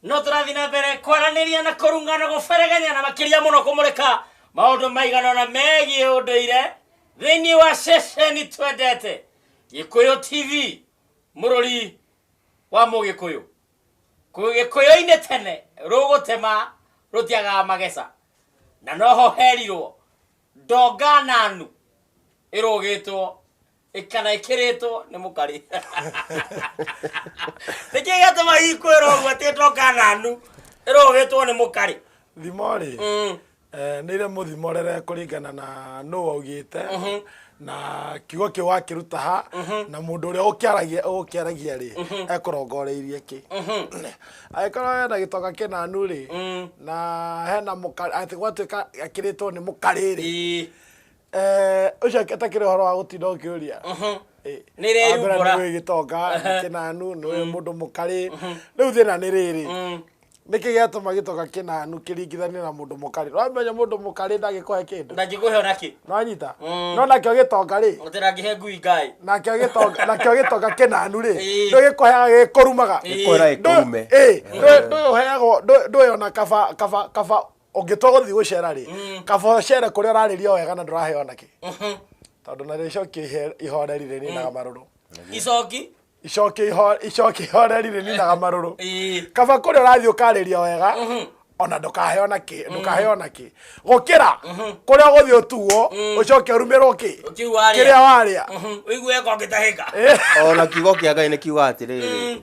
no tũrathiĩ na mbere kwaranĩria na kũrunga na gũberegenya na makĩria mũno kũmũrĩka maũndũ maiganona megiĩ ũndũire thĩinĩ wa ceceni twendete gĩkũyũ tv mũrũri wa mũgĩkũyũ gĩkũyũ-inĩ tene rũgũtema rũtiagaga mageca na noho herirwo ndonga nanu ĩrũgĩtwo kana ĩkĩrĩtwo nĩ mũkarĩ nĩkĩ gĩatũma ikwĩra ũguo atĩ ĩtoka nanu ĩrũgĩtwo nĩ mũkarĩ thimo rĩ Mm. eh, nĩ irĩ mũthimo rere kũringana na nũ waugĩte na kiugo kĩu wakĩruta ha na mũndũ ũrĩa ũkĩaragia ũkĩaragia rĩ ekũrongoreirie kĩ agĩkorwo hena gĩtoka kĩnanu rĩ na hena mũka- atĩ gwatuĩka akĩrĩtwo nĩ mũkarĩ rĩ Ii. Eh, ũcio atakĩrĩ ũhoro wa gũtinda ũkĩũria mhm. eh, nĩreyumbũra nĩwĩ gĩtonga kĩnanu nĩwĩ mm. mũndũ mũkarĩ mhm. rĩu thĩna nĩ rĩrĩ mm. nĩkĩ gĩatũma gĩtoka kĩnanu kĩringithanie na mũndũ mũkarĩ wamenya mũndũ mũkarĩ ndagĩkũhe kĩndũ ndangĩkũhe ona kĩ nanyita mm. no nakĩo gĩtonga rĩ ndĩrangĩhe ngui ngai nakĩo gĩtonga nakĩo gĩtonga kĩnanu rĩ ndũgĩkũheaga gĩkũrumaga gĩkũra gĩkũrume ndũyũheagwo ndũyona kaba kaba kaba ũngĩtua gũthiĩ gũcera rĩ mm. kaba ũcere kũrĩa ũrarĩria wega na ndũraheo nakĩ mhm. tondũ na rĩcoki ihoreri rĩ ninaga mm. marũrũ icoki icoki icoki ihoreri rĩ ninaga marũrũ kaba kũrĩa ũrathiĩ ũkarĩria wega mhm. ona ndũkaheo nakĩ mm. ndũkaheo nakĩ gũkĩra mhm. kũrĩa ũgũthiĩ ũtuo mm. ũcoke ũrumĩrwo kĩ kĩrĩa warĩa ũigue ko ngĩtahĩka ona kiugo kĩa ngai nĩ kiuga atĩrĩrĩ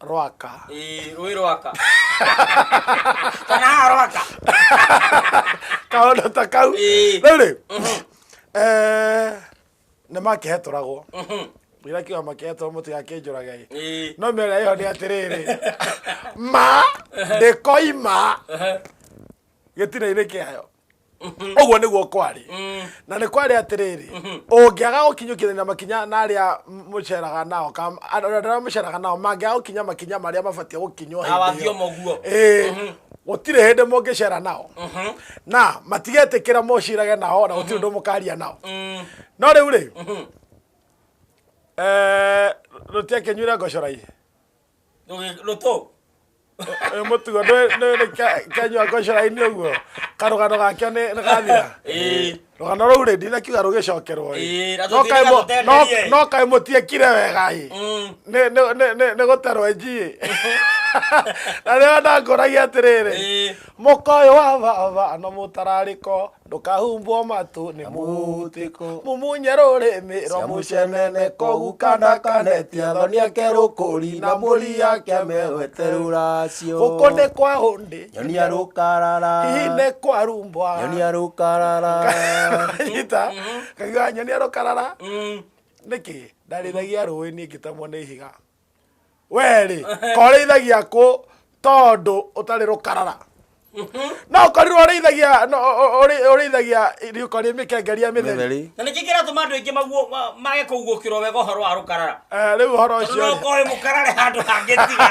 rwaka ĩĩ rũĩ rwaka kana haha rwaka kaũndũ ta kau Ĩĩ. rĩu rĩ nĩ makĩhetũragwo ira kiuga makĩhetũra mũtigakĩnjũrage ĩ ĩĩ no mĩarĩa ĩyo nĩ atĩrĩrĩ ma ndĩkoima gĩtina-inĩ kĩayo ũguo nĩguo kwarĩ na nĩ kwarĩ atĩrĩrĩ ũngĩaga gũkinyũkithania makinya na arĩa mũceraga nao ka- andũ arĩa mũceraga nao mangĩaga gũkinya makinya marĩa mabatiĩ gũkinywo hĩndĩ ĩyo. awathiomo guo Ĩĩ, gũtirĩ hĩndĩ mũngĩcera nao na matigetĩkĩra mũcirage nao na gũtirĩ ũndũ mũkaria nao no rĩu rĩ rũtiakĩnyuire ngocorai rå tå Ũyũ mũtugo nĩ- nĩ- nĩ ke- kenyua ngocora-inĩ ũguo karũgano gakĩo nĩ nĩ gathira rũgano rũu rĩ ndinakiuga rũgĩcokerwo ĩ. Ĩ, na No kaĩ tũtirĩga mu- gũtenderia, ĩ. no- no kaĩ mũtiekire wega ĩ Nĩ- nĩ- nĩ- nĩ- nĩ gũtarwo njiĩ na rĩo ndangũragia atĩrĩrĩ Ĩ. mũka ũyũ wa baba na mũtararĩko ndũkahumbwo matũ nĩ mũhutĩko mũmunye rũrĩmĩ rũmucenene kogu kana kanetia thoni ake rũkũri na mũri yake mewete rũracio gũkũ nĩ kwa hũndĩ nyonia rũkarara hihi nĩ kwa rumbwa nyonia rũkarara nyita kaigua nyonia rũkarara nĩkĩ ndarĩthagia rũĩ niĩ ngĩtamwo nĩ ihiga werĩ korĩithagia kũ tondũ ũtarĩ rũkarara no ũkorirwo ũrĩithagia no- ũ- ũ- ũrĩ- ũrĩithagia riũko rĩ mĩkengeria mĩtheri Mĩtheri. na nĩkĩ kĩratũma andũ aingĩ maguo- ma- mage kũguũkĩrwo wega ũhoro wa rũkarara Eh, rĩu ũhoro tondũ ũcio no ũkoĩ mũkarare handũ hangĩ tiga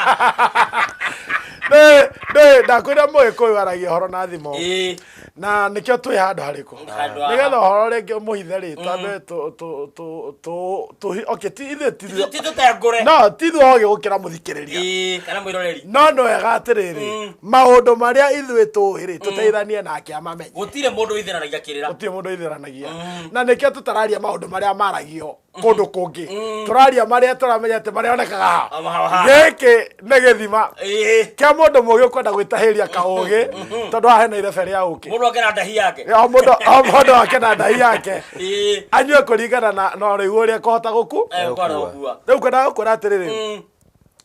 nĩ ndakwĩra mũgĩkũyũ aragia ũhoro na thimo Ĩĩ. na nĩkĩo twĩ handũ harĩkũ Handũ haha. nĩgetha ũhoro rĩngĩ mũhithe rĩta mbe tũ- tũ- tũ- tũ- tũhi- okay, ti- ithuĩ ti ithuĩ- ti tũtengũre no ti ithuĩ ogĩ gũkĩra mũthikĩrĩria Ĩĩ, kana mwĩroreri no nĩ wega atĩrĩrĩ maũndũ marĩa ithuĩ tũhĩrĩ tũteithanie nake amamenye gũtirĩ mũndũ wĩthĩranagia kĩrĩra gũtirĩ mũndũ ithĩranagia na nĩkĩo tũtararia maũndũ marĩa maragio kundu kungi turaria maria turamenya ati marionekaga ha Ama haha ha. giki ni githima Ĩĩ. kia mundu mugi ukwenda gwitahiria kaugi tondu haha hena irebere ya uki Mũndũ akena ndahi yake. o mundu o mundu ake na ndai yake Ĩĩ. anyue kuringana na na urigu uria kuhota guku Eh, kwa na ũgua. riu kwenda gukwira atiriri Mm.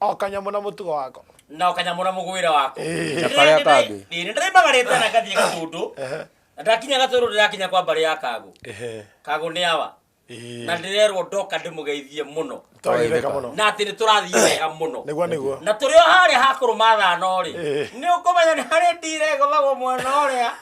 O kanyamũ na mũtugo wako. na o kanyamũ na mũgwĩra wako Ĩĩ. Na karĩa kangĩ. nĩ ndĩrĩmbagarĩte na ngathiĩ gatũndũ Ehe. na ndakinya gatũndũ ndĩrakinya kwa mbarĩ ya kagũ Ehe. kagũ nĩ awa Ĩĩ. na ndĩrerwo ndoka ndĩmũgeithie mũno Twagĩtheka mũno. na atĩ nĩ tũrathiĩ wega mũno Nĩguo nĩguo. na tũrĩ o harĩa ha kũrũma thano rĩ Ĩĩ. nĩ ũkũmenya nĩ harĩ ndirego magwo mwena ũrĩa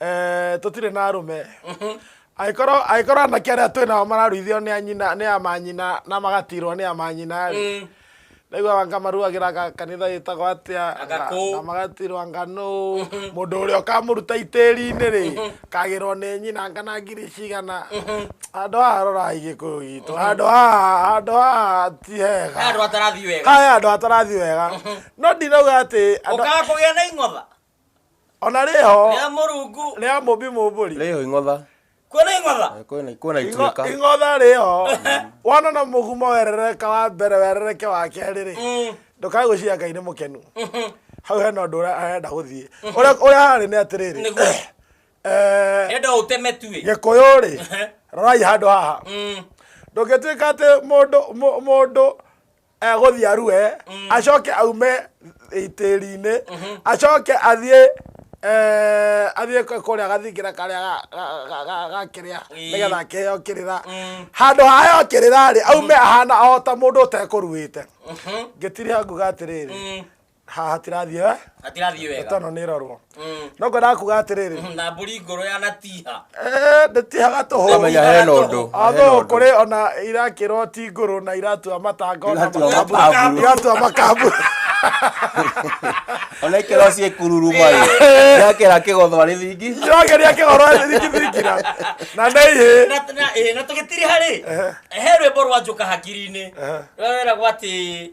Eh, tũtirĩ na arũme angĩkorwo angĩkorwo anake arĩa twĩ nao mararuithio nĩ anyina nĩ amanyina na magatirwo nĩ amanyina rĩ naiguaga ngamaruagĩra ga- kanitha gĩtagwo atĩa Agakũ. na magatirwo nganũ mũndũ ũrĩa ũkamũruta itĩri-inĩ rĩ kagĩrwo nĩ nyina ngana ngiri cigana handũ haha rorai gĩkũyũ gitũ handũ haha handũ haha ti hega andå atarathi wega haya andå atarathi wega no ndirauga atä å kaga kå gä a na ing'otha ona rĩho rĩa mũrungu rĩa mũmbi mũmbũri rĩho ing'otha kuona ing'otha Eh, kwĩna kwĩna ituĩka Ing'o- ing'otha rĩho wona na mũgumo werereka wa mbere werereke wa kerĩ rĩ Mm, ndũkae gwĩciria ngai nĩ mũkenu mhm. hau hena ũndũ ũrĩa arenda gũthiĩ Ũrĩa- ũrĩa harĩ nĩ atĩrĩrĩ Nĩguo. eh, enda ũteme tuĩ gĩkũyũ rĩ rorai handũ haha Mm, ndũngĩtuĩka atĩ mũndũ mũ- mũndũ egũthiĩ arue acoke aume itĩri-inĩ acoke athiĩ eh, athiĩ kũ- kũrĩa gathingira karĩa ga- ga- ga- ga- ga kĩrĩa Ĩĩ. nĩgetha akĩheo kĩrĩra Mm. handũ haheo kĩrĩra rĩ aume ahana o ta mũndũ ũtekũruĩte ngĩtiri hanguga atĩrĩrĩ Mm. haha hatirathiĩ eh? hatirathiĩ ndeto wega ĩno nĩ ĩrorwo Mm. no ngwendaga kuga atĩrĩrĩ na mbũri ngũrũ ya natiha Eh, ndĩtihaga tũhũ Amenya hena ũndũ. athũ kũrĩ ona irakĩrwo ti ngũrũ na iratua matanga ona Iratua makamburu. makamburu. iratua makamburu ona ikero ciĩ kururu mai yakera kĩgotho arĩ thingi irageria kĩgoro thirikithirikira na nĩ ihĩ Na- na- eh, na tũgĩtiri harĩ he rwĩmbo rwa njũka hakiri-inĩ rweragwo atĩ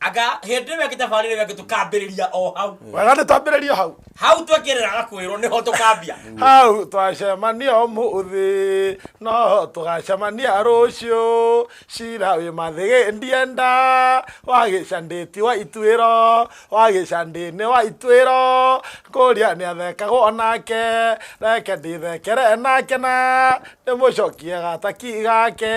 anga hĩndĩ ĩyo ĩngĩ thabarĩ ĩyo ĩngĩ tũkambĩrĩria o hau wega nĩ twambĩrĩrio hau hau twekĩrĩraga kwĩrwo nĩho tũkambia hau twacemania ũmũthĩ no tũgacemania rũciũ cira wĩ mathĩgĩ ndienda wagĩcandĩti wa ituĩro wagĩcandĩnĩ wa ituĩro kũria nĩ athekagwo nake reke ndĩthekere nake na ndĩmũcokie gataki gake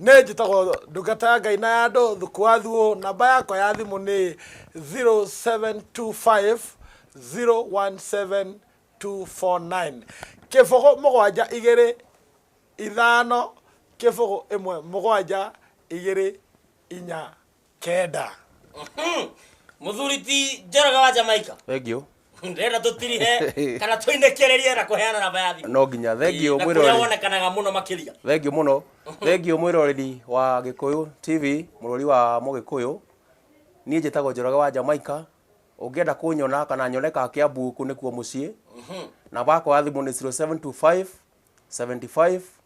Nĩ njĩtagwo ndungata ya Ngai na ya andũ Thuku wa Thuo, namba yakwa ya thimũ nĩ 0725017249. Kĩbũgũ mũgwanja igĩrĩ ithano kĩbũgũ ĩmwe mũgwanja igĩrĩ inya kenda muthuri ti njoroge wa jamaika thank you ndĩrenda tũtirihe kana tũinĩkĩrĩrie na kũheana namba ya thimũ no nginya thank you na kũrĩa mwĩroreri wonekanaga mũno makĩria thank you mũno thank you mwĩroreri wa gĩkũyũ tv mũrori wa mũgĩkũyũ niĩ njĩtagwo njoroge wa jamaica ũngĩenda kũnyona kana nyoneka kĩambu kũ nĩkuo mũciĩ namba yakwa ya thimũ nĩ 0725 75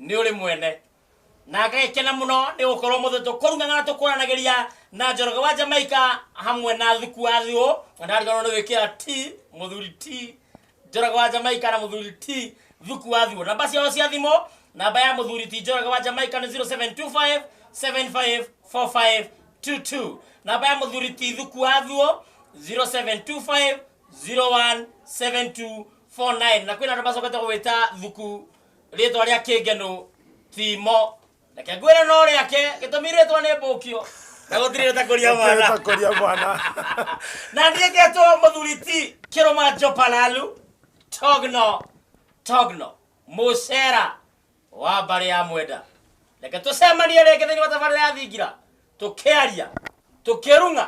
nĩ ũrĩ mwene na agekena mũno nĩ gũkorwo mũthĩ tũkũrungana na tũkũranagĩria na njoroge wa jamaika hamwe na thuku wa thiũ na ndariganwo nĩ gwĩkĩra t mũthuri t njoroge wa jamaika na mũthuri t thuku wa thiũ namba ciao cia thimũ namba ya mũthuri ti njoroge wa jamaika nĩ 0725 754522 namba ya mũthuri ti thuku wa thiũ 0725 017249 na kwĩna andũ macokete gwĩta thuku rĩtwa rĩa kĩngenu timo reke ngwĩre no rĩake gĩtũmi rĩtwa nĩ mbũkio na gũtirĩ rĩtakũria mwana Kũria mwana. na ndirĩketwo mũthuri ti kĩrũma njopalalu togno togno mũcera wa mbarĩ ya mwenda reke tũcemanie rĩngĩ thĩinĩ wa tabarĩra ya thingira tũkĩaria tũkĩrung'a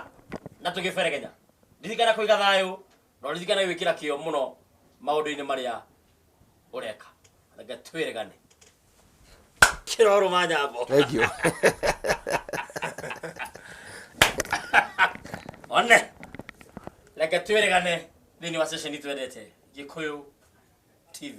na tũgĩberegenya ririkana kũiga thayũ na ũririkane gwĩkĩra kĩo mũno maũndũ-inĩ marĩa ũreka reke twĩregane kĩrorũ ma nyambo thank you one reke twĩregane thĩinĩ wa ceceni twendete gĩkũyũ tv